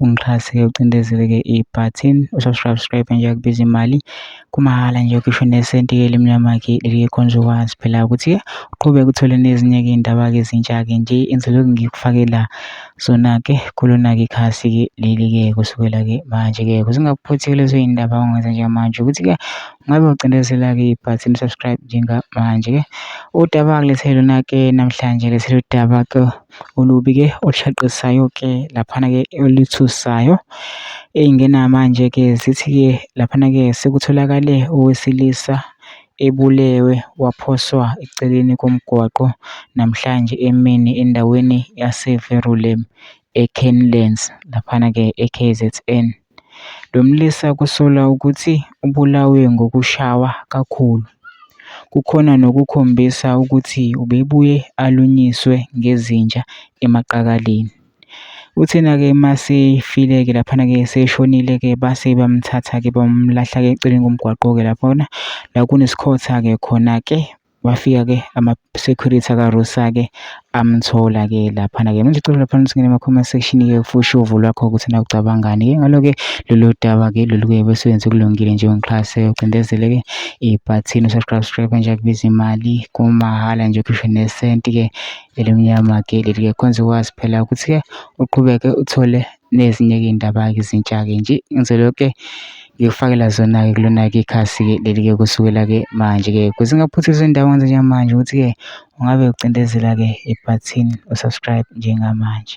ungixhase ke ucindezele ke ibutton usubscribe nje akubiza imali kumahhala nje ukisho nesenti ke elimnyama ke likhonza ukwazi phela ukuthi uqhubeke uthole nezinye ke indaba ke ezintsha ke nje inseloko ngikufakela sona ke kulona ke khasi ke leli ke kusukela ke manje ke kusingakuphuthi lezo indaba ongenza njengamanje ukuthi ke ngabe ucindezela ke ibutton subscribe njengamanje ke udaba kulethelo na ke namhlanje lethelo udaba ke olubi ke olushaqisisayo ke laphana ke oluthusayo. Eyingena manje ke zithi ke laphana ke sekutholakale owesilisa ebulewe waphoswa eceleni komgwaqo namhlanje emini endaweni yaseVerulam eKenlands laphana ke eKZN. Lo mlisa kusolwa ukuthi ubulawe ngokushawa kakhulu. Kukhona nokukhombisa ukuthi ubebuye alunyiswe ngezinja emaqakaleni. Uthena-ke uma esefile-ke laphana-ke eseshonile-ke base bamthatha-ke bamlahla-ke eceleni komgwaqo-ke laphana la kunesikhotha-ke khona-ke. Kwafika-ke ama-security akaRosa-ke amthola-ke laphana-ke. Manje cela laphana singene ema-comment section-ke ufushe uvo lwakho ukuthi na ucabangani-ke ngalo-ke lolu daba-ke lolu kuye besebenze kulungile nje ungixhase ucindezele-ke ibhathini usubscribe nje akubiza imali kumahhala nje ukhishwe nesenti-ke elimnyama-ke leli-ke khonze ukwazi phela ukuthi-ke uqhubeke uthole nezinye ke indaba ezintsha ke nje ngenzela yonke ngikufakela zona ke kulona ke ikhasi ke leli ke kusukela ke manje ke kuze ngaphuthisa indaba ngenze njengamanje ukuthi ke ungabe ucindezela ke ibhathini u-subscribe njengamanje.